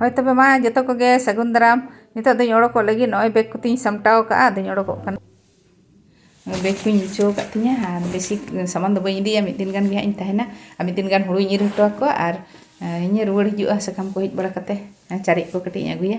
ᱦᱳᱭ ᱛᱚᱵᱮ ᱢᱟ ᱡᱚᱛᱚ ᱠᱚᱜᱮ ᱥᱟᱹᱜᱩᱱ ᱫᱟᱨᱟᱢ ᱱᱤᱛᱚᱜ ᱫᱚᱧ ᱚᱰᱚᱠᱚᱜ ᱞᱟᱹᱜᱤᱫ ᱱᱚᱜᱼᱚᱭ ᱵᱮᱜᱽ ᱠᱚᱛᱤᱧ ᱥᱟᱢᱴᱟᱣ ᱠᱟᱜᱼᱟ ᱟᱫᱚᱧ ᱚᱰᱚᱠᱚᱜ ᱠᱟᱱᱟ ᱵᱮᱜᱽ ᱠᱚᱧ ᱜᱩᱪᱷᱟᱹᱣ ᱟᱠᱟᱫ ᱛᱤᱧᱟᱹ ᱟᱨ ᱵᱮᱥᱤ ᱥᱟᱢᱟᱱ ᱫᱚ ᱵᱟᱹᱧ ᱤᱫᱤᱭᱟ ᱢᱤᱫ ᱫᱤᱱ ᱜᱟᱱ ᱜᱮ ᱦᱟᱸᱜ ᱤᱧ ᱛᱟᱦᱮᱱᱟ ᱟᱨ ᱢᱤᱫ ᱫᱤᱱ ᱜᱟᱱ ᱦᱩᱲᱩᱧ ᱤᱨ ᱦᱚᱴᱚ ᱟᱠᱚᱣᱟ ᱟᱨ ᱤᱧᱤᱧ ᱨᱩᱣᱟᱹᱲ ᱦᱤᱡᱩᱜᱼᱟ ᱥᱟᱠᱟᱢ ᱠᱚ ᱦᱮᱡ ᱵᱟᱲᱟ ᱠᱟᱛᱮᱫ ᱪᱟᱨᱮᱡ ᱠᱚ ᱠᱟᱹᱴᱤᱡ ᱤᱧ ᱟᱹᱜᱩᱭᱟ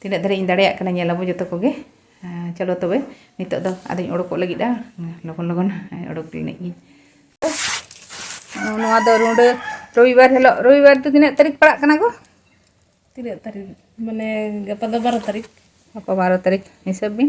ᱛᱤᱱᱟᱹᱜ ᱫᱷᱟᱹᱨᱤᱡ ᱤᱧ ᱫᱟᱲᱮᱭᱟᱜ ᱠᱟᱱᱟ ᱧᱮᱞ ᱟᱵᱚ ᱡᱚᱛᱚ ᱠᱚᱜᱮ ᱪᱚᱞᱚ ᱛᱚᱵᱮ ᱱᱤᱛᱚᱜ ᱫᱚ ᱟᱫᱚᱧ ᱚᱰᱚᱠᱚᱜ ᱞᱟᱹᱜᱤᱫᱼᱟ ᱞᱚᱜᱚᱱ ᱞᱚᱜᱚᱱ ᱚᱰᱚᱠ ᱞᱮᱱᱤᱡ ᱜᱤᱧ ᱱᱚᱣᱟ ᱫᱚ ᱨᱩᱸᱰᱟᱹ ᱨᱚᱵᱤᱵᱟᱨ ᱦᱤᱞᱳᱜ ᱨᱚᱵᱤᱵᱟᱨ ᱫᱚ ᱛᱤᱱᱟᱹᱜ ᱛᱟᱹᱨᱤᱠᱷ ᱯᱟᱲᱟᱜ ᱠᱟᱱᱟ ᱜᱚ ᱛᱤᱱᱟᱹᱜ ᱛᱟᱹᱨᱤᱠᱷ ᱢᱟᱱᱮ ᱜᱟᱯᱟ ᱫᱚ ᱵᱟᱨᱚ ᱛᱟᱹᱨᱤᱠᱷ ᱜᱟᱯᱟ ᱵᱟᱨᱚ ᱛᱟᱹᱨᱤᱠᱷ ᱦᱤᱥᱟᱹᱵ ᱵᱤᱱ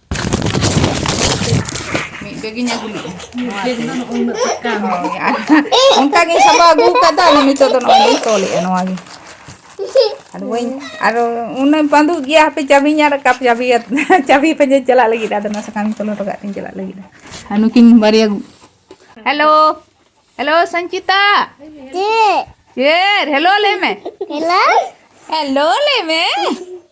ᱢᱤᱫ ᱵᱮᱜᱽ ᱤᱧ ᱟᱹᱜᱩ ᱞᱮᱫᱼᱟ ᱚᱱᱠᱟ ᱜᱮ ᱥᱟᱵᱟ ᱟᱹᱜᱩ ᱠᱟᱫᱟ ᱟᱫᱚ ᱱᱤᱛᱚᱜ ᱫᱚ ᱱᱚᱜᱼᱚᱭ ᱞᱤᱧ ᱛᱚᱞᱮᱫᱼᱟ ᱱᱚᱣᱟ ᱜᱮ ᱟᱫᱚ ᱵᱟᱹᱧ ᱟᱨ ᱩᱱᱟᱹᱜ ᱵᱟᱸᱫᱩᱜ ᱜᱮᱭᱟ ᱦᱟᱯᱮ ᱪᱟᱵᱤᱧ ᱟᱨ ᱠᱟᱯ ᱪᱟᱵᱤ ᱪᱟᱵᱤ ᱯᱟᱸᱡᱟ ᱪᱟᱞᱟᱜ ᱞᱟᱹᱜᱤᱫ ᱟᱫᱚ ᱱᱚᱣᱟ ᱥᱟᱠᱟᱢ ᱛᱚᱞ ᱦᱚᱴᱚ ᱠᱟᱜ ᱛᱤᱧ ᱪᱟᱞᱟᱜ ᱞᱟᱹᱜᱤᱫ ᱟᱨ ᱱᱩᱠᱤᱱ ᱵᱟᱨᱭᱟ ᱦᱮᱞᱳ ᱦᱮᱞᱳ ᱥᱚᱧᱪᱤᱛᱟ ᱪᱮᱫ ᱪᱮᱫ ᱦᱮᱞᱳ ᱞᱟᱹᱭ ᱢᱮ ᱦᱮᱞᱳ ᱦᱮᱞᱳ ᱞᱟᱹᱭ ᱢᱮ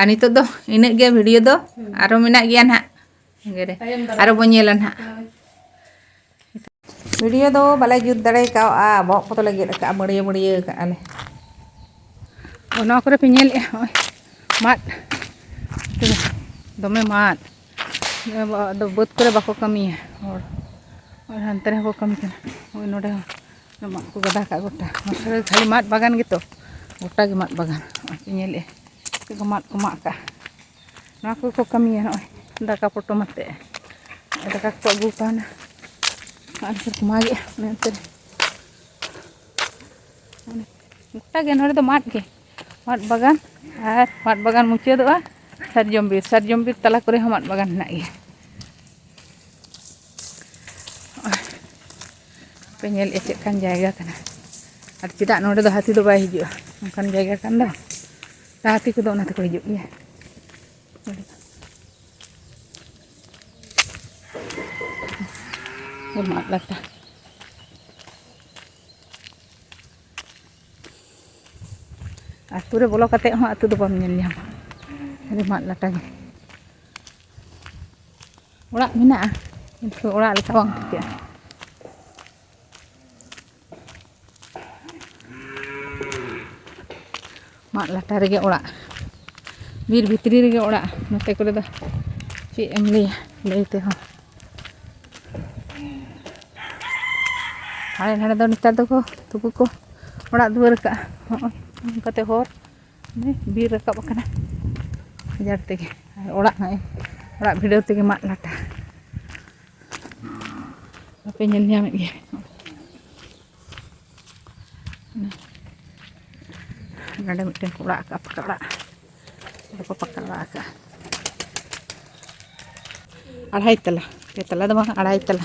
ᱟᱨ ᱱᱤᱛᱚᱜ ᱫᱚ ᱤᱱᱟᱹᱜ ᱜᱮ ᱵᱷᱤᱰᱤᱭᱳ ᱫᱚ ᱟᱨᱚ ᱢᱮᱱᱟᱜ ᱜᱮᱭᱟ ᱱᱟᱦᱟᱜ ᱥᱟᱸᱜᱮ ᱨᱮ ᱟᱨᱚ ᱵᱚᱱ ᱧᱮᱞᱟ ᱱᱟᱦᱟᱜ ᱵᱷᱤᱰᱤᱭᱳ ᱫᱚ ᱵᱟᱞᱮ ᱡᱩᱛ ᱫᱟᱲᱮ ᱠᱟᱣᱟ ᱵᱚᱦᱚᱜ ᱠᱚᱫᱚ ᱞᱮ ᱜᱮᱫ ᱟᱠᱟᱫᱼᱟ ᱵᱟᱹᱲᱭᱟᱹ ᱵᱟᱹᱲᱭᱟᱹ ᱠᱟᱜᱼᱟ ᱞᱮ ᱚᱱᱟ ᱠᱚᱨᱮ ᱯᱮ ᱧᱮᱞᱮᱫᱼᱟ ᱱᱚᱜᱼᱚᱭ ᱢᱟᱫ ᱫᱚᱢᱮ ᱢᱟᱫ ᱟᱫᱚ ᱵᱟᱹᱫᱽ ᱠᱚᱨᱮ ᱵᱟᱠᱚ ᱠᱟᱹᱢᱤᱭᱟ ᱦᱚᱲ ᱦᱟᱱᱛᱮ ᱨᱮᱦᱚᱸ ᱠᱚ ᱠᱟᱹᱢᱤ ᱠᱟᱱᱟ ᱱᱚᱜᱼᱚᱭ ᱱᱚᱰᱮ ᱦᱚᱸ ᱢᱟᱫ ᱠᱚ ᱜᱟᱫᱟ ᱠᱟᱜ ᱜᱚᱴᱟ ᱢᱟᱥᱮ ᱠᱷᱟᱹᱞᱤ ᱢᱟᱫ ᱵᱟᱜᱟᱱ ᱜᱮᱛᱚ ᱜᱚᱴᱟ ᱜᱮ ᱢᱟᱫ ᱵᱟᱜᱟᱱ ᱱᱚᱜᱼᱚᱭ ᱯᱮ ᱧᱮᱞᱮᱜᱼᱟ ᱪᱮᱫ ᱠᱚ ᱢᱟᱫ ᱠᱚ ᱢᱟᱜ ᱠᱟᱜᱼᱟ ᱱᱚᱣᱟ ᱠᱚᱠᱚ ᱠᱟᱹᱢᱤᱭᱟ ᱱᱚᱜᱼᱚᱭ ᱫᱟᱠᱟ ᱯᱚᱴᱚᱢ ᱟᱛᱮᱫ ᱫᱟᱠᱟ ᱠᱚ ᱟᱹᱜᱩ ᱠᱟᱣᱱᱟ ᱟᱨ ᱠᱚ ᱢᱟᱜᱮᱜᱼᱟ ᱚᱱᱮ ᱚᱱᱛᱮ ᱨᱮ ᱜᱚᱴᱟ ᱜᱮ ᱱᱚᱰᱮ ᱫᱚ ᱢᱟᱫ ᱜᱮ ᱢᱟᱫ ᱵᱟᱜᱟᱱ ᱟᱨ ᱢᱟᱫ ᱵᱟᱜᱟᱱ ᱢᱩᱪᱟᱹᱫᱚᱜᱼᱟ ᱥᱟᱨᱡᱚᱢ ᱵᱤᱨ ᱥᱟᱨᱡᱚᱢ ᱵᱤᱨ ᱛᱟᱞᱟ ᱠᱚᱨᱮ ᱦᱚᱸ ᱢᱟᱫ ᱵᱟᱜᱟᱱ ᱦᱮᱱᱟᱜ ᱜᱮᱭᱟ ᱯᱮ ᱧᱮᱞ ᱮᱫ ᱪᱮᱫ ᱠᱟᱱ ᱡᱟᱭᱜᱟ ᱠᱟᱱᱟ ᱟᱨ ᱪᱮᱫᱟᱜ ᱱᱚᱰᱮ ᱫᱚ ᱦᱟᱹᱛᱤ ᱫᱚ ᱵᱟᱭ ᱦᱤᱡᱩᱜᱼᱟ ᱚᱱᱠᱟᱱ ᱡᱟᱭᱜᱟ ᱠᱟᱱ ᱫᱚ ᱦᱟᱹᱛᱤ ᱠᱚᱫᱚ ᱚᱱᱟ ᱛᱮᱠᱚ ᱦᱤᱡᱩᱜ ᱜᱮᱭᱟ ᱢᱟᱫ ᱞᱟᱴᱟ ᱟᱹᱛᱩ ᱨᱮ ᱵᱚᱞᱚ ᱠᱟᱛᱮᱫ ᱦᱚᱸ ᱟᱹᱛᱩ ᱫᱚ ᱵᱟᱢ ᱧᱮᱞ ᱧᱟᱢᱟ ᱠᱷᱟᱹᱞᱤ ᱢᱟᱫ ᱞᱟᱴᱟ ᱜᱮ ᱚᱲᱟᱜ ᱢᱮᱱᱟᱜᱼᱟ ᱠᱤᱱᱛᱩ ᱚᱲᱟᱜ ᱞᱮᱠᱟ ᱵᱟᱝ ᱴᱷᱤᱠᱟᱹᱜᱼᱟ ᱢᱟᱫ ᱞᱟᱴᱟ ᱨᱮᱜᱮ ᱚᱲᱟᱜ ᱵᱤᱨ ᱵᱷᱤᱛᱨᱤ ᱨᱮᱜᱮ ᱚᱲᱟᱜ ᱱᱚᱛᱮ ᱠᱚᱨᱮ ᱫᱚ ᱪᱮᱫ ᱮᱢ ᱞᱟᱹᱭᱟ ᱞᱟᱹᱭ ᱛᱮᱦᱚᱸ ᱦᱟᱸᱰᱮ ᱱᱟᱰᱮ ᱫᱚ ᱱᱮᱛᱟᱨ ᱫᱚᱠᱚ ᱛᱩᱠᱩ ᱠᱚ ᱚᱲᱟᱜ ᱫᱩᱣᱟᱹᱨ ᱠᱟᱜᱼᱟ ᱦᱚᱸᱜᱼᱚᱭ ᱱᱚᱝᱠᱟᱛᱮ ᱦᱚᱨ ᱵᱤᱨ ᱨᱟᱠᱟᱵ ᱟᱠᱟᱱᱟ ᱜᱟᱡᱟᱲ ᱛᱮᱜᱮ ᱟᱨ ᱚᱲᱟᱜ ᱱᱚᱜᱼᱚᱭ ᱚᱲᱟᱜ ᱵᱷᱤᱰᱟᱹᱣ ᱛᱮᱜᱮ ᱢᱟᱫ ᱞᱟᱴᱟ ᱵᱟᱯᱮ ᱧᱮᱞ ᱧᱟᱢᱮᱫ ᱜᱮᱭᱟ ᱱᱚᱰᱮ ᱢᱤᱫᱴᱮᱱ ᱠᱚ ᱚᱲᱟᱜ ᱟᱠᱟᱫᱼᱟ ᱯᱟᱠᱟ ᱚᱲᱟᱜ ᱚᱸᱰᱮ ᱠᱚ ᱯᱟᱠᱟ ᱚᱲᱟᱜ ᱟᱠᱟᱫᱼᱟ ᱟᱲᱟᱭ ᱛᱟᱞᱟ ᱯᱮ ᱛᱟᱞᱟ ᱫᱚ ᱵᱟᱝ ᱟᱲᱟᱭ ᱛᱟᱞᱟ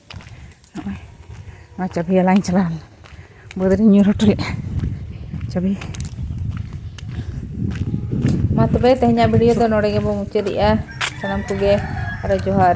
ᱱᱚᱜᱼᱚᱭ ᱱᱚᱣᱟ ᱪᱟᱹᱵᱷᱤ ᱦᱟᱞᱟᱝ ᱪᱟᱞᱟᱣ ᱞᱮᱱᱟ ᱵᱟᱹᱫᱽ ᱨᱤᱧ ᱧᱩᱨ ᱦᱚᱴᱚ ᱞᱮᱫᱼᱟ ᱪᱟᱹᱵᱷᱤ ᱢᱟ ᱛᱚᱵᱮ ᱛᱮᱦᱮᱧᱟᱜ ᱵᱷᱤᱰᱤᱭᱳ ᱫᱚ ᱱᱚᱰᱮ ᱜᱮᱵᱚᱱ ᱢᱩᱪᱟᱹᱫᱮᱜᱼᱟ ᱥᱟᱱᱟᱢ ᱠᱚᱜᱮ ᱟᱨᱚ ᱡᱚᱦᱟᱨ